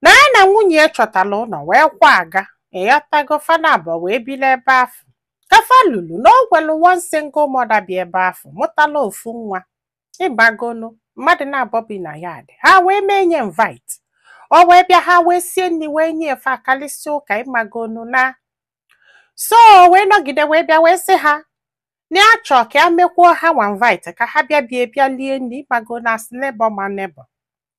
na ya na nwunye ya chọtara ụlọ wee kwaga ịghọtago fa naabọ wee biri ebe afụ ka fa lulu na o nwelu one single mother bi ebe afụ mụtala ofu nwa ịmagonu mmadụ naabọ bi na yard ha wee mee nya invite o wee bịa ha wee sie nri wee nye ya fa akalịsịa ụka ịmagonu na so o wee nọgide wee bịa wee sị ha na ya chọọ ka ya mekwuo ha nwa invite ka ha bịa be ya bịa lie nri ịmagonu as neighbor ma neighbor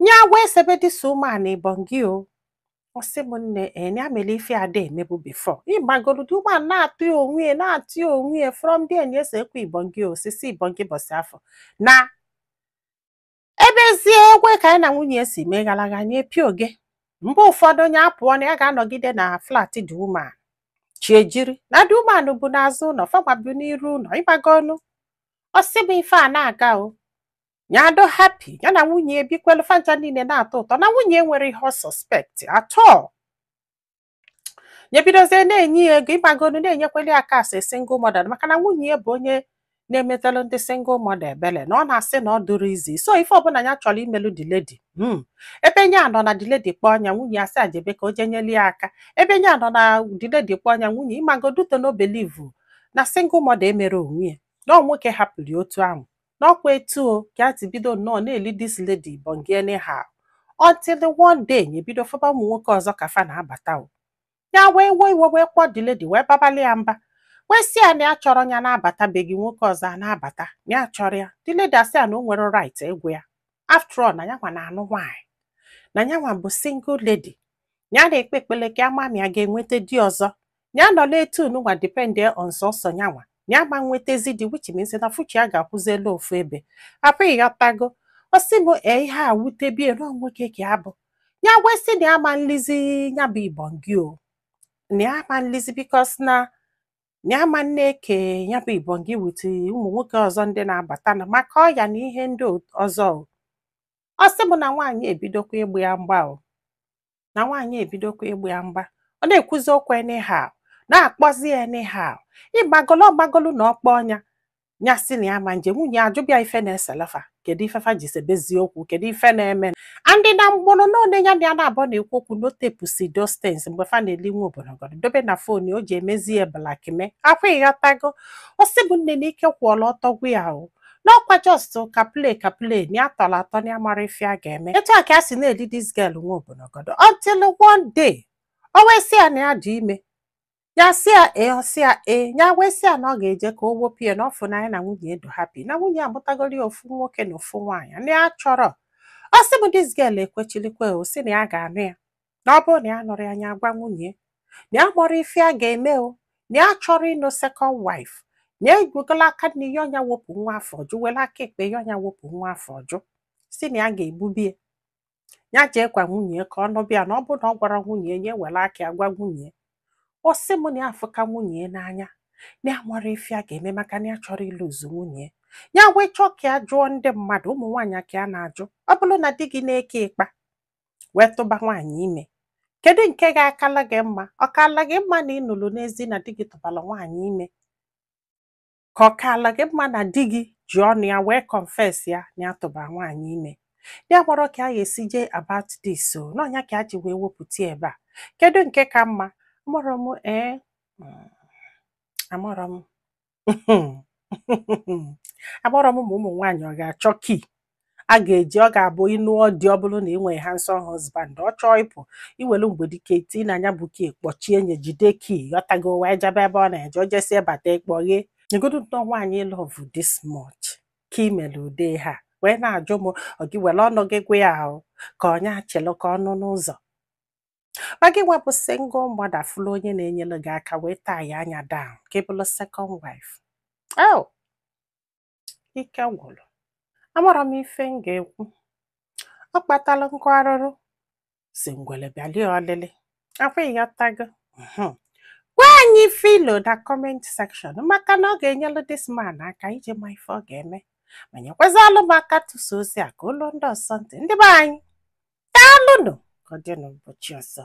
nya agwa esebe this woman ibongi o ọ sị m nne na nya eh, mere ife a da-emebu before ịmagoro this woman na-atụ ya onwe ya na-atụ ya onwe ya from there nya ese ekwe ibongi osisi ibongi ụbọsị afụ na ebezie egwe ka nya na nwunye ya si mee gara aga nye pịa oge mgbe ụfọdụ nya apụọ na ya ga-anọgide na flat this woman chi ejiri na this woman bu n'azụ ụlọ fa nwa bu n'iru ụlọ ịmagonu ọ sị m ife a na-aga o nya adị happy ya na nwunye ya ebikwelu fancha niile na-atọ ụtọ na nwunye ya enwerọ ihe ọ suspect at all nya ebidozie na-enye ya ego ịmagonu na-enyekweli ya aka as a single mother maka na nwunye ya bụ onye na-emetelu ndị single mother ebele na ọ na-asị na ọ dịrọ easy so ife ọbụla ya chọrọ imelu the lady hmm. ebe nya nọ na the lady kpọọ nya nwunye ya sị ya jebe ka o je nyeli ya aka ebe nya nọ na the lady kpọọ nya nwunye ịmagonu ọ na-believe na single mother emerọ onwe ya na ọ nwoke hapụrụ ya otu ahụ na ọkwa etu o ka a ti bido nnọọ na-eli this lady bongi anyhow until one day nya ebido fụba ụmụ nwoke ọzọ ka fa na-abata o ya wee wee iwe wee kpọọ the lady wee babali ya mba wee sị ya na ya achọrọ ya na-abata be gị nwoke ọzọ a na-abata na ya achọrọ ya the lady asị ya na o nwerọ right ịgwa ya after all na yanwa na-anụ nwaanyị na yanwa bụ single lady ya na-ekpe ekpele ka a ma ma ya ga-enweta di ọzọ ya nọla etu nwa depend on sọsọ nyanwa na ya ma nwetezi di which means na future ya ga-akwụzilụ ofu ebe apụghị ịghọtago ọ sị m ee ihe a wutebe ya na nwoke ka ya bụ ya wee sị na ya ma nlizi ya bụ ibongi o na ya ma nlizi because na na ya ma na-eke ya bụ ibongi with ụmụ nwoke ọzọ ndị na-abata na maka ọya na ihe ndị ọzọ o ọ sị m na nwaanyị ebidokwa ịgba ya mgba o na nwaanyị ebidokwa ịgba ya mgba ọ na-ekwuzi okwu anyhow na-akpọzi ya anyhow ịmagolu ọ magolu na ọ kpọọ nya ya sị na ya ma nje nwunye ya ajụbịa ife na-eselụ fa kedu ife fa ji sebezi okwu kedu ife na-eme and na mgbụrụ na onye ya na ya naabọ na-ekwu okwu na o tepụsị those things mgbe fa na-eli nwa obodogodo dobe na phone o ji emezi ya blackmail ọkwa ịghọtago ọ sị mụ nne na ike kwụọla ọtọ gwụ ya o n'ọkwa just ka play ka play na ya tọrọ atọ na ya amarọ ife ya ga-eme etu a ka ya si na-eli this girl nwa obonogodo until one day o wee sị ya na ya dị ime ya sị ya ee ọ sị ya ee ya wee sị ya na ọ ga-eje ka o wepụ ya na ọ fụ na ya na nwunye edo happy na nwunye amụtagoro ya ofu nwoke na ofu nwaanyị na ya achọrọ ọ sị m this girl ekwechilikwe o sị na ya ga-anụ ya na ọ bụrụ na ya anụrọ ya nya agwa nwunye na ya amarọ ife ya ga-eme o na ya achọrọ ịnụ second wife na ewegola aka nni yọọ nya wepụ nwa afọ ọ jụ were aka ekpe yọọ nya wepụ nwa afọ ọ jụ sị na ya ga-egbubie ya jee gwa nwunye ka ọ nụbịa na ọ bụrụ na ọ gwarọ nwunye ya ewere aka ya gwa nwunye ọ sị m na ya afụka nwunye n'anya na ya amarọ ife ya ga-eme maka na ya achọrọ ị lose nwunye ya wee chọọ ka ya jụọ ndị mmadụ ụmụ nwaanyị ka ya na-ajụ ọ bụrụ na di gị na-eke ịkpa wee tụba nwaanyị ime kedu nke ga-akala gị mma ọ kaala gị mma na ị nụrụ n'ezi na di gị tụbara nwaanyị ime ka ọ kaala gị mma na di gị ji ọnụ ya wee confess ya na ya tụbara nwaanyị ime ya amarọ ka a ga-esi jee about this so na ọ nya ka a ji wee wepụta ya ebe a kedu nke ka mma amarọ m ee mm, amarọ m agbọrọ m ụmụ nwaanyị ọ ga-achọ key a ga-eji ọ ga-abụ ịnụ ọdị ọ bụrụ na ị nwere handsome husband ọ chọọ ịpụ i welu mgbedike tii na nya bụ key kpọchie nya jide key ị ghọtago wee jebe ebe ọ na-eje o jesie bata ị kpọghee negodu na nwaanyị love this much ka ị mere ude ha wee na-ajụ m ọ gị were ọnụ gị gwa ya ahụ ka ọ nya chelu ka ọ nụ n'ụzọ ma gị nwa bụ single mother fụlụ onye na-enyere gị aka wee tie nya down ka ị bụrụ second wife oh ike gwụrụ amarọ m ife m ga-ekwu ọ kpatara nkụ arụrụ sị ngwere bịalụ ya olili ọkwa ị ghọtago Mhm. gwa anyị ife i lo na comment section maka na ọ ga-enyelu this man aka iji ma ife ọ ga-eme ma nyekwazalụ m aka tụsa ozi a ka o luo ndị ọzọ ntị ndị be anyị daalụnụ ka ọ dị n'ụbọchị ọzọ